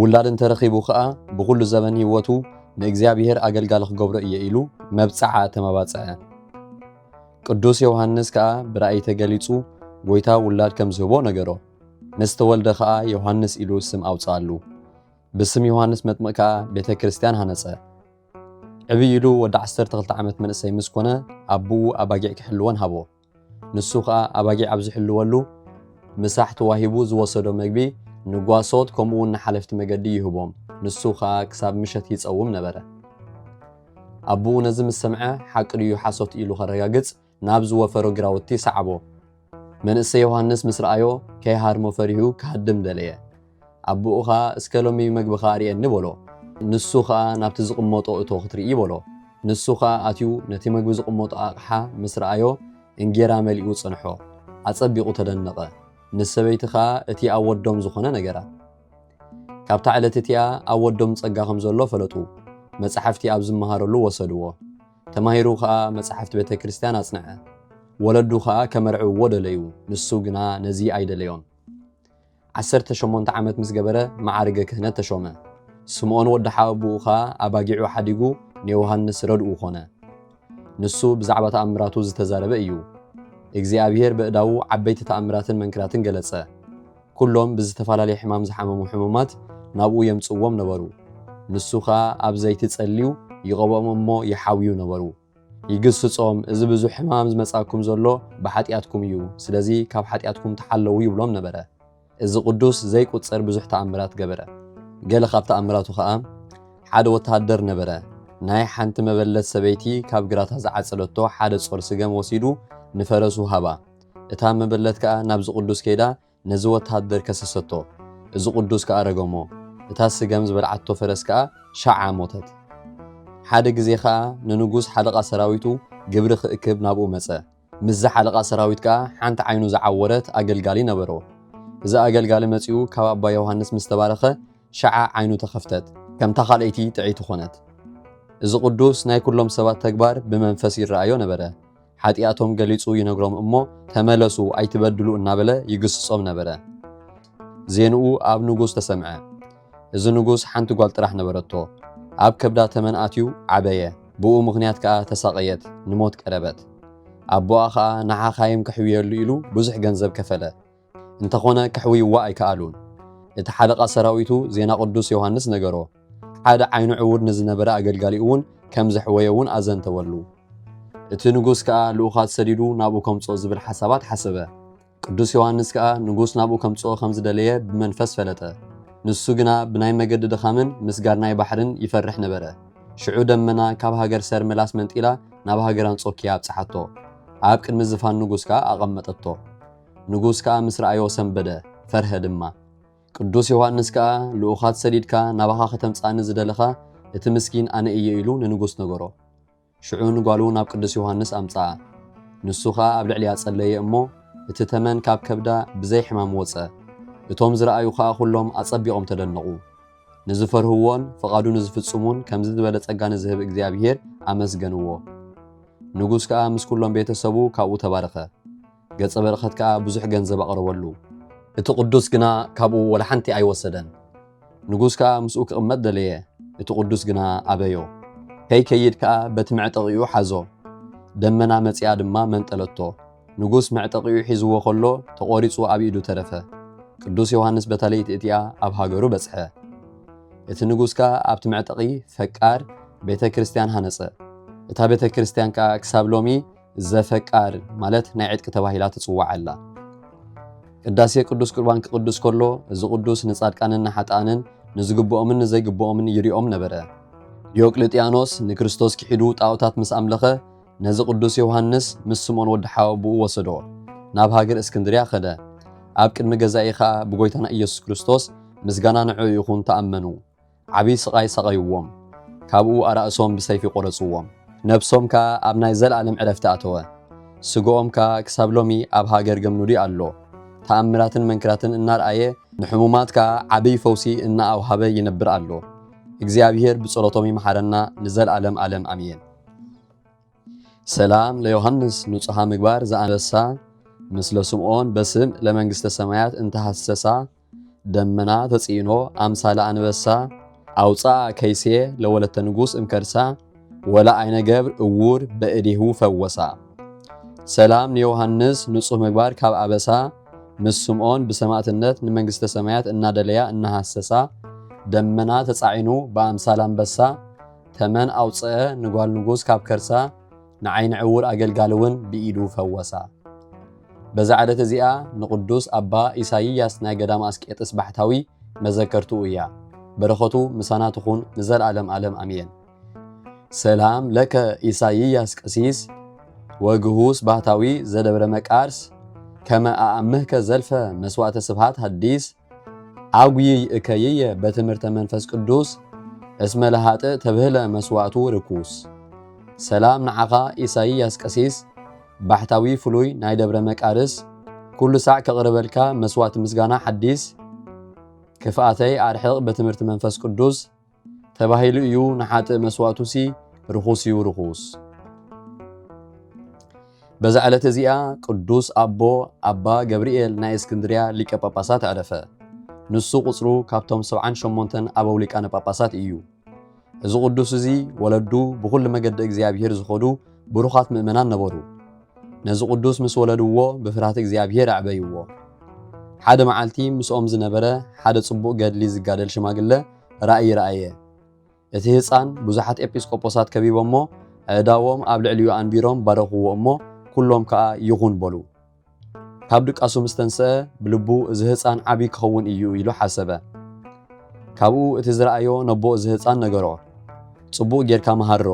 ውላድ እንተ ረኺቡ ኸኣ ብዅሉ ዘበን ህይወቱ ንእግዚኣብሄር ኣገልጋሊ ኽገብሮ እየ ኢሉ መብጽዓ ኣተማባጽዐ። ቅዱስ ዮሃንስ ከኣ ብራእይ ተገሊጹ ጐይታ ውላድ ከም ዝህቦ ነገሮ። ምስ ተወልደ ኸኣ ዮሃንስ ኢሉ ስም ኣውጽኣሉ። ብስም ዮሃንስ መጥምቕ ከኣ ቤተ ክርስቲያን ሃነጸ። ዕብይ ኢሉ ወዲ ዓሰርተ ክልተ ዓመት መንእሰይ ምስ ኰነ ኣቦኡ ኣባጊዕ ኪሕልወን ሃቦ። ንሱ ኸኣ ኣባጊዕ ኣብ ዚሕልወሉ ምሳሕ ተዋሂቡ ዝወሰዶ ምግቢ ንጓሶት ከምኡውን ንሓለፍቲ መገዲ ይህቦም፣ ንሱ ኸኣ ክሳብ ምሸት ይጸውም ነበረ። ኣቦኡ ነዚ ምስ ሰምዐ፣ ሓቂ ድዩ ሓሶት ኢሉ ኸረጋግጽ፣ ናብ ዝወፈሮ ግራውቲ ሰዓቦ። መንእሰይ ዮሃንስ ምስ ረኣዮ፣ ከይሃርሞ ፈሪሁ ኪሃድም ደለየ። ኣቦኡ ኸኣ እስከ ሎሚ መግብኻ ኣርእየኒ በሎ። ንሱ ኸኣ ናብቲ ዝቕመጦ እቶ ክትርኢ በሎ። ንሱ ኸኣ ኣትዩ ነቲ መግቢ ዝቕመጦ ኣቕሓ ምስ ረኣዮ እንጌራ መሊኡ ጸንሖ። ኣጸቢቑ ተደነቐ። ንሰበይቲ ኸኣ እቲ ኣብ ወዶም ዝኾነ ነገራ። ካብታ ዕለት እቲኣ ኣብ ወዶም ጸጋ ከም ዘሎ ፈለጡ። መጻሕፍቲ ኣብ ዝመሃረሉ ወሰድዎ። ተማሂሩ ኸኣ መጻሕፍቲ ቤተ ክርስቲያን ኣጽንዐ። ወለዱ ኸኣ ከመርዕውዎ ደለዩ፣ ንሱ ግና ነዚ ኣይደለዮን። ዓሰርተ ሸሞንተ ዓመት ምስ ገበረ መዓርገ ክህነት ተሾመ። ስምኦን ወዲ ሓወብኡ ከኣ ኣባጊዑ ሓዲጉ ንዮውሃንስ ረድኡ ኮነ። ንሱ ብዛዕባ ተኣምራቱ ዝተዛረበ እዩ። እግዚኣብሔር በእዳዉ ዓበይቲ ተኣምራትን መንክራትን ገለጸ። ኩሎም ብዝተፋላለየ ሕማም ዝሓመሙ ሕሙማት ናብኡ የምጽእዎም ነበሩ። ንሱ ከኣ ኣብ ዘይቲ ጸልዩ ይቐብኦም እሞ ይሓውዩ ነበሩ። ይግስጾም፣ እዚ ብዙሕ ሕማም ዝመጽኣኩም ዘሎ ብሓጢኣትኩም እዩ፣ ስለዚ ካብ ሓጢኣትኩም ተሓለዉ ይብሎም ነበረ። እዚ ቅዱስ ዘይቁጸር ብዙሕ ተኣምራት ገበረ። ገለ ካብ ተኣምራቱ ኸኣ፣ ሓደ ወተሃደር ነበረ፣ ናይ ሓንቲ መበለት ሰበይቲ ካብ ግራታ ዝዓጸደቶ ሓደ ጾር ስገም ወሲዱ ንፈረሱ ሃባ። እታ መበለት ከኣ ናብዚ ቅዱስ ከይዳ ነዚ ወተሃደር ከሰሰቶ፣ እዚ ቕዱስ ከኣ ረገሞ፣ እታ ስገም ዝበልዓቶ ፈረስ ከኣ ሻዓ ሞተት። ሓደ ግዜ ኸኣ ንንጉስ ሓለቓ ሰራዊቱ ግብሪ ኺእክብ ናብኡ መጸ። ምስዚ ሓለቓ ሰራዊት ከኣ ሓንቲ ዓይኑ ዝዓወረት ኣገልጋሊ ነበሮ። እዚ ኣገልጋሊ መጺኡ ካብ ኣባ ዮሃንስ ምስ ተባረኸ ሻዓ ዓይኑ ተኸፍተት፣ ከምታ ኻልኣይቲ ጥዕይቲ ዀነት። እዚ ቕዱስ ናይ ኵሎም ሰባት ተግባር ብመንፈስ ይረኣዮ ነበረ። ሓጢኣቶም ገሊጹ ይነግሮም እሞ ተመለሱ ኣይትበድሉ እናበለ ይግስጾም ነበረ። ዜንኡ ኣብ ንጉስ ተሰምዐ። እዚ ንጉስ ሓንቲ ጓል ጥራሕ ነበረቶ። ኣብ ከብዳ ተመን ኣትዩ ዓበየ፣ ብኡ ምኽንያት ከኣ ተሳቐየት፣ ንሞት ቀረበት። ኣቦኣ ኸኣ ንሓኻይም ከሕውየሉ ኢሉ ብዙሕ ገንዘብ ከፈለ። እንተኾነ ከሕውይዋ ኣይከኣሉን። እቲ ሓለቓ ሰራዊቱ ዜና ቅዱስ ዮሃንስ ነገሮ። ሓደ ዓይኑ ዕውር ንዝነበረ ኣገልጋሊኡውን ከም ዘሕወየውን ኣዘንተወሉ። እቲ ንጉስ ከኣ ልኡኻት ሰዲዱ ናብኡ ከምጽኦ ዝብል ሓሳባት ሓሰበ። ቅዱስ ዮሃንስ ከኣ ንጉስ ናብኡ ከምጽኦ ከም ዝደለየ ብመንፈስ ፈለጠ። ንሱ ግና ብናይ መገዲ ድኻምን ምስጋር ናይ ባሕርን ይፈርሕ ነበረ። ሽዑ ደመና ካብ ሃገር ሰርመላስ መንጢላ ናብ ሃገር ኣንጾኪያ ኣብጽሓቶ። ኣብ ቅድሚ ዝፋን ንጉስ ከኣ ኣቐመጠቶ። ንጉስ ከኣ ምስ ረኣዮ ሰምበደ፣ ፈርሀ ድማ። ቅዱስ ዮሃንስ ከኣ ልኡኻት ሰዲድካ ናባኻ ከተምጽኣኒ ዝደለኻ እቲ ምስኪን ኣነ እየ ኢሉ ንንጉስ ነገሮ። ሽዑ ንጓሉ ናብ ቅዱስ ዮሃንስ ኣምጽኣ። ንሱ ከኣ ኣብ ልዕሊኣ ጸለየ እሞ እቲ ተመን ካብ ከብዳ ብዘይ ሕማም ወጸ። እቶም ዝረኣዩ ከኣ ኩሎም ኣጸቢቖም ተደነቑ። ንዝፈርህዎን ፍቓዱ ንዝፍጽሙን ከምዚ ዝበለ ጸጋ ንዝህብ እግዚኣብሔር ኣመስገንዎ። ንጉስ ከኣ ምስ ኩሎም ቤተ ሰቡ ካብኡ ተባረኸ። ገጸ በረኸት ከኣ ብዙሕ ገንዘብ ኣቕረበሉ። እቲ ቅዱስ ግና ካብኡ ወላ ሓንቲ ኣይወሰደን። ንጉስ ከኣ ምስኡ ክቕመጥ ደለየ፣ እቲ ቅዱስ ግና ኣበዮ። ከይከይድ ከኣ በቲ መዕጠቒኡ ሓዞ። ደመና መጺኣ ድማ መንጠለቶ። ንጉስ መዕጠቒኡ ሒዝዎ ከሎ ተቖሪጹ ኣብ ኢዱ ተረፈ። ቅዱስ ዮሃንስ በታ ለይቲ እቲኣ ኣብ ሃገሩ በጽሐ። እቲ ንጉስ ከኣ ኣብቲ መዕጠቒ ፈቃር ቤተ ክርስቲያን ሃነጸ። እታ ቤተ ክርስቲያን ከኣ ክሳብ ሎሚ ዘፈቃር ማለት ናይ ዕጥቂ ተባሂላ ትጽዋዕ ኣላ። ቅዳሴ ቅዱስ ቁርባን ክቕዱስ ከሎ እዚ ቅዱስ ንጻድቃንን ንሓጥኣንን ንዝግብኦምን ንዘይግብኦምን ይሪኦም ነበረ። ዲዮቅልጥያኖስ ንክርስቶስ ክሒዱ ጣኦታት ምስ ኣምለኸ ነዚ ቅዱስ ዮውሃንስ ምስ ስምኦን ወዲ ሓወብኡ ወሰዶ። ናብ ሃገር እስክንድርያ ከደ። ኣብ ቅድሚ ገዛኢ ከኣ ብጎይታና ኢየሱስ ክርስቶስ ምስጋና ንዕኡ ይኹን ተኣመኑ። ዓብይ ስቓይ ሰቐዩዎም፣ ካብኡ ኣራእሶም ብሰይፊ ቈረጹዎም፣ ነብሶም ከኣ ኣብ ናይ ዘለኣለም ዕረፍቲ ኣተወ፣ ስግኦም ከኣ ክሳብ ሎሚ ኣብ ሃገር ገምኑሪ ኣሎ፣ ተኣምራትን መንክራትን እናርኣየ፣ ንሕሙማት ከኣ ዓብይ ፈውሲ እናኣውሃበ ይነብር ኣሎ፣ እግዚኣብሄር ብጸሎቶም ይምሓረና ንዘልኣለም ኣለም ኣምየን። ሰላም ለዮሐንስ ንጹሃ ምግባር ዘኣንበሳ ምስለ ስምዖን በስም ለመንግስተ ሰማያት እንተ ሐሰሳ ደመና ተጽዕኖ ኣምሳለ ኣንበሳ ኣውፅኣ ከይሴ ለወለተ ንጉስ እምከርሳ ወላ ዓይነ ገብር እውር በእዴሁ ፈወሳ። ሰላም ንዮሐንስ ንጹህ ምግባር ካብ ኣበሳ ምስ ስምዖን ብሰማእትነት ንመንግስተ ሰማያት እናደለያ እናሃሰሳ ደመና ተጻዒኑ ብኣምሳል ኣንበሳ ተመን ኣውጽአ ንጓል ንጉስ ካብ ከርሳ ንዓይኒ ዕዉር ኣገልጋሊ እውን ብኢዱ ፈወሳ። በዛ ዕለት እዚኣ ንቕዱስ ኣባ ኢሳይያስ ናይ ገዳመ ኣስቄጥስ ባሕታዊ መዘከርትኡ እያ። በረኸቱ ምሳና ትኹን ንዘልኣለም ኣለም ኣሜን። ሰላም ለከ ኢሳይያስ ቀሲስ ወግሁስ ባህታዊ ዘደብረ መቃርስ ከመ ኣኣምህከ ዘልፈ መስዋዕተ ስብሃት ሐዲስ ኣጉይይ እከይየ በትምህርተ መንፈስ ቅዱስ እስመ ለሃጥእ ተብህለ መስዋእቱ ርኩስ። ሰላም ንዓኻ ኢሳይያስ ቀሲስ ባሕታዊ ፍሉይ ናይ ደብረ መቃርስ ኩሉ ሳዕ ከቕርበልካ መስዋእቲ ምስጋና ሓዲስ ክፍኣተይ ኣርሕቕ በትምህርቲ መንፈስ ቅዱስ ተባሂሉ እዩ ንሓጥእ መስዋእቱሲ ርኹስ እዩ ርኹስ በዛ ዕለት እዚኣ ቅዱስ ኣቦ ኣባ ገብርኤል ናይ እስክንድርያ ሊቀ ጳጳሳት ዕረፈ ንሱ ቁጽሩ ካብቶም ሰብዓን ሸሞንተን ኣበው ሊቃነ ጳጳሳት እዩ እዚ ቅዱስ እዚ ወለዱ ብኹሉ መገዲ እግዚኣብሔር ዝኾዱ ብሩኻት ምእመናን ነበሩ ነዚ ቅዱስ ምስ ወለድዎ ብፍርሃት እግዚኣብሔር ኣዕበይዎ ሓደ መዓልቲ ምስኦም ዝነበረ ሓደ ጽቡቕ ገድሊ ዝጋደል ሽማግለ ራእይ ረኣየ። እቲ ህጻን ብዙሓት ኤጲስቆጶሳት ከቢቦሞ ኣእዳዎም ኣብ ልዕሊኡ ኣንቢሮም ባረኽዎ እሞ ኩሎም ከኣ ይኹን በሉ። ካብ ድቃሱ ምስ ተንስኣ ብልቡ እዚ ህጻን ዓቢ ክኸውን እዩ ኢሉ ሓሰበ። ካብኡ እቲ ዝረኣዮ ነቦ እዚ ህጻን ነገሮ። ጽቡቕ ጌርካ መሃሮ፣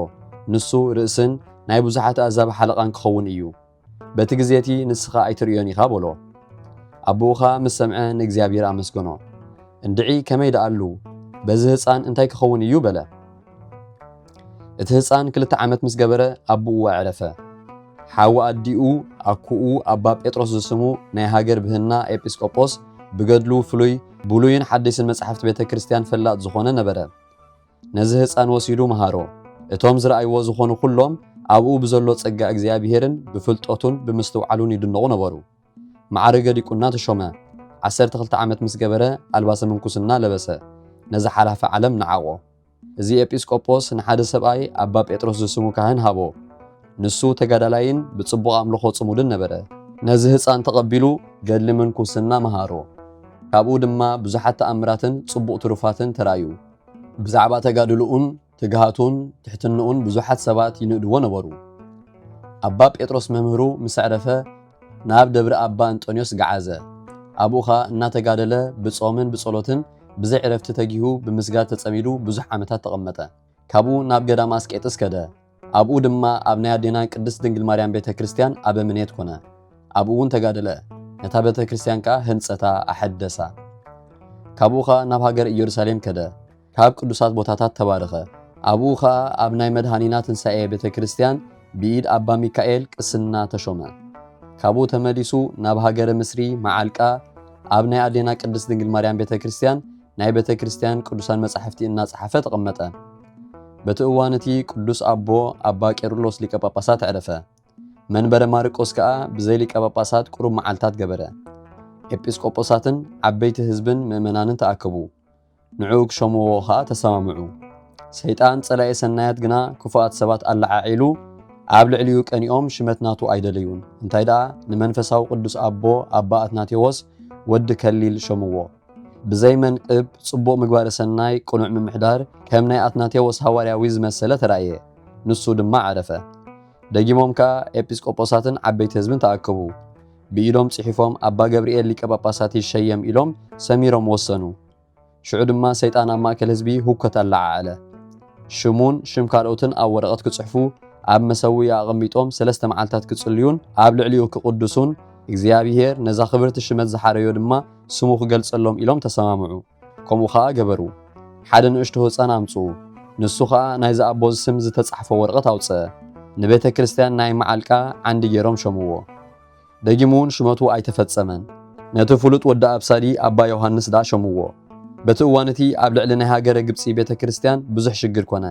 ንሱ ርእስን ናይ ብዙሓት ኣእዛብ ሓለቓን ክኸውን እዩ። በቲ ግዜ እቲ ንስኻ ኣይትርእዮን ኢኻ በሎ። ኣቦኡ ኸኣ ምስ ሰምዐ ንእግዚኣብሄር ኣመስገኖ። እንድዒ ከመይ ደኣሉ፣ በዚ ህጻን እንታይ ኪኸውን እዩ? በለ። እቲ ህጻን ክልተ ዓመት ምስ ገበረ ኣቦኡ ኣዕረፈ። ሓው ኣዲኡ፣ ኣኩኡ ኣባ ጴጥሮስ ዝስሙ ናይ ሃገር ብህና ኤጲስቆጶስ፣ ብገድሉ ፍሉይ፣ ብሉይን ሓዲስን መጻሕፍቲ ቤተ ክርስቲያን ፈላጥ ዝኾነ ነበረ። ነዚ ህጻን ወሲዱ መሃሮ። እቶም ዝረኣይዎ ዝኾኑ ኩሎም ኣብኡ ብዘሎ ጸጋ እግዚኣብሄርን ብፍልጠቱን ብምስትውዓሉን ይድነቑ ነበሩ። መዓርገ ዲቁና ተሾመ። ዓሰርተ ክልተ ዓመት ምስ ገበረ ኣልባሰ ምንኩስና ለበሰ። ነዚ ሓላፊ ዓለም ነዓቖ። እዚ ኤጲስ ቆጶስ ንሓደ ሰብኣይ ኣባ ጴጥሮስ ዝስሙ ካህን ሃቦ። ንሱ ተጋዳላይን ብጽቡቕ ኣምልኾ ጽሙድን ነበረ። ነዚ ህጻን ተቐቢሉ ገድሊ ምንኩስና መሃሮ። ካብኡ ድማ ብዙሓት ተኣምራትን ጽቡቕ ትሩፋትን ተራእዩ። ብዛዕባ ተጋድሎኡን ትግሃቱን ትሕትንኡን ብዙሓት ሰባት ይንእድዎ ነበሩ። ኣባ ጴጥሮስ መምህሩ ምስ ኣዕረፈ ናብ ደብሪ ኣባ እንጦንዮስ ገዓዘ። ኣብኡ ኸኣ እናተጋደለ ብጾምን ብጸሎትን ብዘይ ዕረፍቲ ተጊሁ ብምስጋድ ተጸሚዱ ብዙሕ ዓመታት ተቐመጠ። ካብኡ ናብ ገዳመ ኣስቄጥስ ከደ። ኣብኡ ድማ ኣብ ናይ ኣዴና ቅድስት ድንግል ማርያም ቤተ ክርስቲያን ኣበምኔት ኮነ። ኣብኡ እውን ተጋደለ፣ ነታ ቤተ ክርስቲያን ከኣ ህንጸታ፣ ኣሐደሳ። ካብኡ ኸኣ ናብ ሃገረ ኢየሩሳሌም ከደ፣ ካብ ቅዱሳት ቦታታት ተባረኸ። ኣብኡ ኸኣ ኣብ ናይ መድኃኒና ትንሣኤ ቤተ ክርስቲያን ብኢድ ኣባ ሚካኤል ቅስና ተሾመ። ካብኡ ተመሊሱ ናብ ሃገረ ምስሪ፣ መዓልቃ፣ ኣብ ናይ ኣዴና ቅድስት ድንግል ማርያም ቤተ ክርስቲያን ናይ ቤተ ክርስቲያን ቅዱሳን መጻሕፍቲ እናጸሓፈ ተቐመጠ። በቲ እዋን እቲ ቅዱስ ኣቦ ኣባ ቄርሎስ ሊቀ ጳጳሳት ዕረፈ። መንበረ ማርቆስ ከኣ ብዘይ ሊቀ ጳጳሳት ቁሩብ መዓልታት ገበረ። ኤጲስቆጶሳትን ዓበይቲ ህዝብን ምእመናንን ተኣከቡ፣ ንዕኡ ክሸምዎ ኸኣ ተሰማምዑ። ሰይጣን ጸላኢ ሰናያት ግና ክፉኣት ሰባት ኣለዓዒሉ ኣብ ልዕሊኡ ቀኒኦም ሽመት ናቱ ኣይደለዩን፣ እንታይ ደኣ ንመንፈሳዊ ቅዱስ ኣቦ ኣባ ኣትናቴዎስ ወዲ ከሊል ሸምዎ። ብዘይ መንቅብ ጽቡቕ ምግባረ ሰናይ ቅኑዕ ምምሕዳር ከም ናይ ኣትናቴዎስ ሃዋርያዊ ዝመሰለ ተራእየ። ንሱ ድማ ዓረፈ። ደጊሞም ከኣ ኤጲስቆጶሳትን ዓበይቲ ህዝብን ተኣከቡ። ብኢዶም ጽሒፎም ኣባ ገብርኤል ሊቀ ጳጳሳት ይሸየም ኢሎም ሰሚሮም ወሰኑ። ሽዑ ድማ ሰይጣን ኣብ ማእከል ህዝቢ ሁከት ኣለዓዓለ። ሽሙን ሽም ካልኦትን ኣብ ወረቐት ክጽሕፉ ኣብ መሰውኢ ኣቐሚጦም ሰለስተ መዓልታት ክጽልዩን ኣብ ልዕሊኡ ክቕድሱን እግዚኣብሔር ነዛ ክብርቲ ሽመት ዝሓረዮ ድማ ስሙ ክገልጸሎም ኢሎም ተሰማምዑ። ከምኡ ከኣ ገበሩ። ሓደ ንእሽቶ ህጻን ኣምጽኡ። ንሱ ከኣ ናይዚ ኣቦ ስም ዝተጻሕፎ ወርቐት ኣውጽኣ። ንቤተ ክርስቲያን ናይ መዓልቃ ዓንዲ ገይሮም ሸምዎ። ደጊምውን ሽመቱ ኣይተፈጸመን። ነቲ ፍሉጥ ወዲ ኣብሳዲ ኣባ ዮሃንስ ደኣ ሸምዎ። በቲ እዋን እቲ ኣብ ልዕሊ ናይ ሃገረ ግብጺ ቤተ ክርስቲያን ብዙሕ ሽግር ኮነ።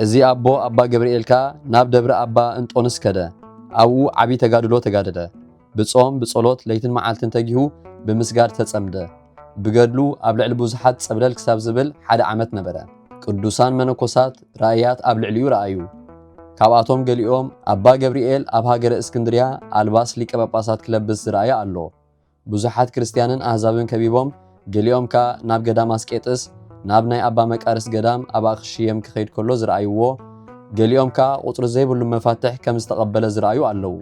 እዚ ኣቦ ኣባ ገብርኤል ከኣ ናብ ደብረ ኣባ እንጦንስ ከደ። ኣብኡ ዓቢ ተጋድሎ ተጋደለ። ብጾም ብጸሎት ለይትን መዓልትን ተጊሁ ብምስጋድ ተጸምደ። ብገድሉ ኣብ ልዕሊ ብዙሓት ጸብለል ክሳብ ዝብል ሓደ ዓመት ነበረ። ቅዱሳን መነኮሳት ራእያት ኣብ ልዕሊኡ ረኣዩ። ካብኣቶም ገሊኦም ኣባ ገብርኤል ኣብ ሃገረ እስክንድርያ ኣልባስ ሊቀ ጳጳሳት ክለብስ ዝረኣየ ኣሎ። ብዙሓት ክርስትያንን ኣህዛብን ከቢቦም፣ ገሊኦም ከኣ ናብ ገዳም ኣስቄጥስ፣ ናብ ናይ ኣባ መቃርስ ገዳም ኣብ ኣኽሽየም ክኸይድ ከሎ ዝረኣይዎ፣ ገሊኦም ከኣ ቁጽሪ ዘይብሉ መፋትሕ ከም ዝተቐበለ ዝረኣዩ ኣለዉ።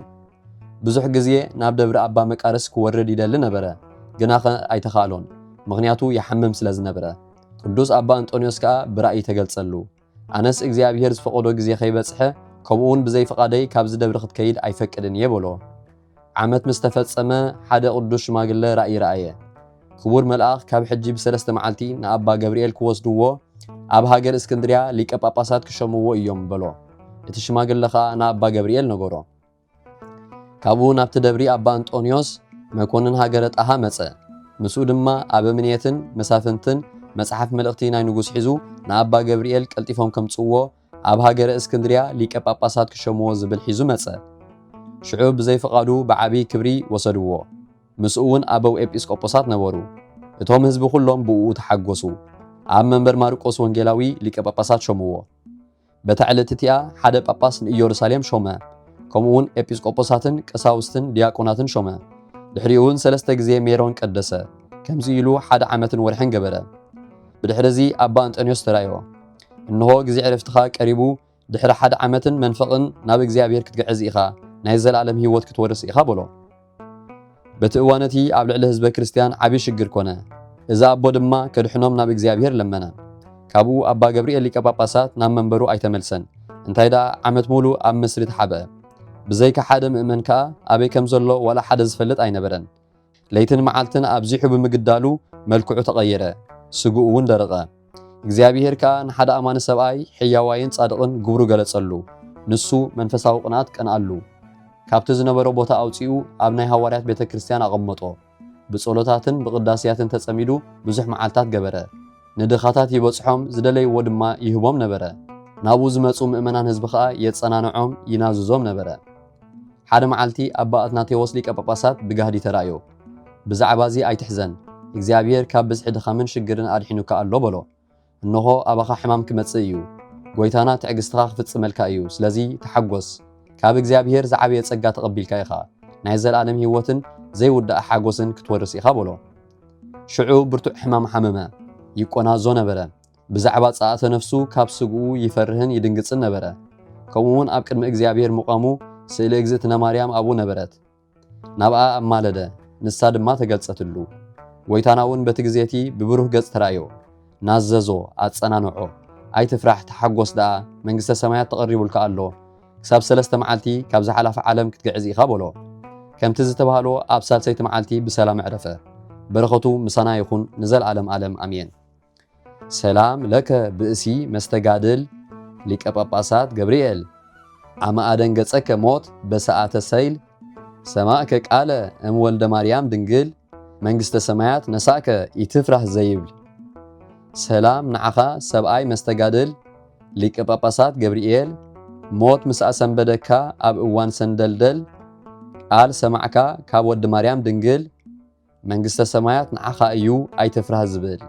ብዙሕ ግዜ ናብ ደብሪ ኣባ መቃርስ ክወርድ ይደሊ ነበረ፣ ግናኸ ኣይተኻእሎን፣ ምኽንያቱ ይሓምም ስለ ዝነብረ። ቅዱስ ኣባ እንጦንዮስ ከኣ ብራእይ ተገልጸሉ። ኣነስ እግዚኣብሄር ዝፈቐዶ ግዜ ከይበጽሐ ከምኡውን ብዘይ ፍቓደይ ካብዚ ደብሪ ክትከይድ ኣይፈቅድን እየ በሎ። ዓመት ምስ ተፈጸመ ሓደ ቅዱስ ሽማግለ ራእይ ረኣየ። ክቡር መልኣኽ ካብ ሕጂ ብሰለስተ መዓልቲ ንኣባ ገብርኤል ክወስድዎ ኣብ ሃገር እስክንድርያ ሊቀ ጳጳሳት ክሸምዎ እዮም በሎ። እቲ ሽማግለ ኸኣ ንኣባ ገብርኤል ነገሮ። ካብኡ ናብቲ ደብሪ ኣባ እንጦንዮስ መኮንን ሃገረ ጣሃ መጸ። ምስኡ ድማ ኣበምኔትን መሳፍንትን መጽሓፍ መልእኽቲ ናይ ንጉስ ሒዙ ንኣባ ገብርኤል ቀልጢፎም ከምጽእዎ ኣብ ሃገረ እስክንድርያ ሊቀ ጳጳሳት ክሸምዎ ዝብል ሒዙ መጸ። ሽዑ ብዘይ ፍቓዱ ብዓቢይ ክብሪ ወሰድዎ። ምስኡውን ኣበው ኤጲስቆጶሳት ነበሩ። እቶም ሕዝቢ ኩሎም ብእኡ ተሓጎሱ። ኣብ መንበር ማርቆስ ወንጌላዊ ሊቀ ጳጳሳት ሾምዎ። በታ ዕለት እቲኣ ሓደ ጳጳስ ንኢየሩሳሌም ሾመ፣ ከምኡ ውን ኤጲስቆጶሳትን ቀሳውስትን ዲያቆናትን ሾመ። ድሕሪኡ ውን ሰለስተ ግዜ ሜሮን ቀደሰ። ከምዚ ኢሉ ሓደ ዓመትን ወርሕን ገበረ። ብድሕሪ እዚ ኣባ እንጠንዮስ ተራእዮ፣ እንሆ ግዜ ዕረፍትኻ ቀሪቡ፣ ድሕሪ ሓደ ዓመትን መንፈቕን ናብ እግዚኣብሔር ክትግዕዝ ኢኻ፣ ናይ ዘለኣለም ሕይወት ክትወርስ ኢኻ በሎ። በቲ እዋን እቲ ኣብ ልዕሊ ህዝበ ክርስቲያን ዓቢ ሽግር ኮነ። እዚ ኣቦ ድማ ከድሕኖም ናብ እግዚኣብሔር ለመነ። ካብኡ ኣባ ገብርኤል ሊቀ ጳጳሳት ናብ መንበሩ ኣይተመልሰን፣ እንታይ ደኣ ዓመት ሙሉእ ኣብ ምስሪ ተሓብአ። ብዘይካ ሓደ ምእመን ከኣ ኣበይ ከም ዘሎ ዋላ ሓደ ዝፈልጥ ኣይነበረን። ለይትን መዓልትን ኣብዚሑ ብምግዳሉ መልክዑ ተቐየረ፣ ስግኡ'ውን ደረቐ። እግዚኣብሄር ከኣ ንሓደ ኣማኒ ሰብኣይ ሕያዋይን ጻድቕን ግብሩ ገለጸሉ። ንሱ መንፈሳዊ ቅንኣት ቀንኣሉ። ካብቲ ዝነበሮ ቦታ ኣውጺኡ ኣብ ናይ ሃዋርያት ቤተ ክርስቲያን ኣቐመጦ። ብጸሎታትን ብቅዳሴያትን ተጸሚዱ ብዙሕ መዓልታት ገበረ። ንድኻታት ይበጽሖም ዝደለይዎ ድማ ይህቦም ነበረ። ናብኡ ዝመጹ ምእመናን ህዝቢ ከኣ የጸናንዖም ይናዝዞም ነበረ። ሓደ መዓልቲ ኣባ ኣትናቴዎስ ሊቀ ጳጳሳት ብጋህዲ ተራእዮ። ብዛዕባ እዚ ኣይትሕዘን፣ እግዚኣብሔር ካብ ብዝሒ ድኻምን ሽግርን ኣድሒኑካ ኣሎ በሎ። እንሆ ኣባኻ ሕማም ክመጽእ እዩ፣ ጐይታና ትዕግሥትኻ ክፍጽመልካ እዩ፣ ስለዚ ተሓጐስ፣ ካብ እግዚኣብሔር ዝዓበየ ጸጋ ተቐቢልካ ኢኻ፣ ናይ ዘለዓለም ሕይወትን ዘይውዳእ ሓጐስን ክትወርስ ኢኻ በሎ። ሽዑ ብርቱዕ ሕማም ሓመመ፣ ይቈናዞ ነበረ፣ ብዛዕባ ጸኣተ ነፍሱ ካብ ስግኡ ይፈርህን ይድንግጽን ነበረ። ከምኡውን ኣብ ቅድሚ እግዚኣብሔር ምቛሙ ስእለ እግዝእትነ ማርያም ኣብኡ ነበረት። ናብኣ ኣማለደ፣ ንሳ ድማ ተገልጸትሉ። ጐይታናውን በቲ ግዜ እቲ ብብሩህ ገጽ ተራእዮ፣ ናዘዞ፣ ኣጸናንዖ፣ ኣይትፍራሕ ተሓጐስ ደኣ፣ መንግሥተ ሰማያት ተቐሪቡልካ ኣሎ፣ ክሳብ ሠለስተ መዓልቲ ካብዛ ሓላፊ ዓለም ክትግዕዝ ኢኻ በሎ። ከምቲ ዝተባህሎ ኣብ ሣልሰይቲ መዓልቲ ብሰላም ኣዕረፈ። በረኸቱ ምሳና ይኹን ንዘለዓለም ዓለም ኣሜን። ሰላም ለከ ብእሲ መስተጋድል ሊቀ ጳጳሳት ገብርኤል አመ አደንገጸከ ሞት በሰዓተ ሰይል ሰማዕከ ቃለ እም ወልደ ማርያም ድንግል መንግስተ ሰማያት ነሳእከ ኢትፍራህ ዘይብል ሰላም ንዓኻ ሰብኣይ መስተጋድል ሊቀ ጳጳሳት ገብርኤል ሞት ምስ ኣሰንበደካ ኣብ እዋን ሰንደልደል ቃል ሰማዕካ ካብ ወዲ ማርያም ድንግል መንግስተ ሰማያት ንዓኻ እዩ ኣይትፍራህ ዝብል።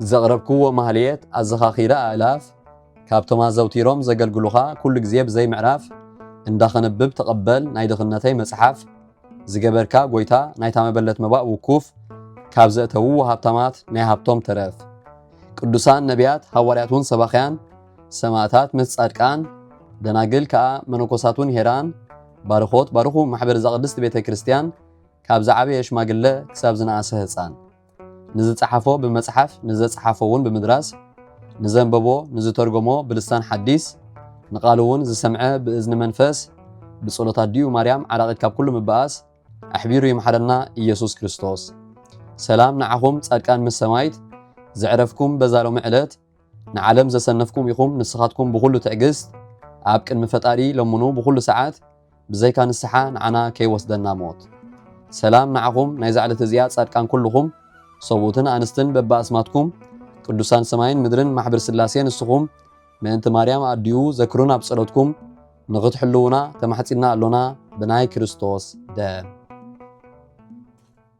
ዘቕረብክዎ ማህሌት ኣዘኻኺረ ኣእላፍ ካብቶም ኣዘውቲሮም ዘገልግሉኻ ኩሉ ግዜ ብዘይ ምዕራፍ እንዳ ከንብብ ተቐበል ናይ ድኽነተይ መጽሓፍ ዝገበርካ ጎይታ ናይታ መበለት መባእ ውኩፍ ካብ ዘእተውዎ ሃብታማት ናይ ሃብቶም ተረፍ ቅዱሳን ነቢያት ሃዋርያት ውን ሰባኽያን ሰማእታት ምስ ጻድቃን ደናግል ከኣ መነኮሳት ውን ሄራን ባርኾት ባርኹ ማሕበር እዛ ቅድስቲ ቤተ ክርስቲያን ካብ ዝዓበየ ሽማግለ ክሳብ ዝነኣሰ ህፃን ንዝፀሓፎ ብመፅሓፍ ንዘፀሓፎ እውን ብምድራስ ንዘንበቦ ንዝተርጎሞ ብልሳን ሓዲስ ንቃሉ እውን ዝሰምዐ ብእዝኒ መንፈስ ብጸሎት ኣዲኡ ማርያም ዓራቂት ካብ ኩሉ ምበኣስ ኣሕቢሩ ይምሓረና ኢየሱስ ክርስቶስ። ሰላም ንዓኹም ጻድቃን ምስ ሰማይት ዘዕረፍኩም በዛ ሎሚ ዕለት ንዓለም ዘሰነፍኩም ኢኹም ንስኻትኩም ብኹሉ ትዕግስት ኣብ ቅድሚ ፈጣሪ ለምኑ ብኹሉ ሰዓት ብዘይካ ንስሓ ንዓና ከይወስደና ሞት። ሰላም ንዓኹም ናይዛ ዕለት እዚኣ ጻድቃን ኩሉኹም ሰብኡትን ኣንስትን በብኣስማትኩም ቅዱሳን ሰማይን ምድርን ማሕብር ስላሴ ንስኹም ምእንቲ ማርያም ኣዲኡ ዘክሩን ኣብ ጸሎትኩም ንኽትሕልዉና ተማሕጺንና ኣሎና ብናይ ክርስቶስ ደም።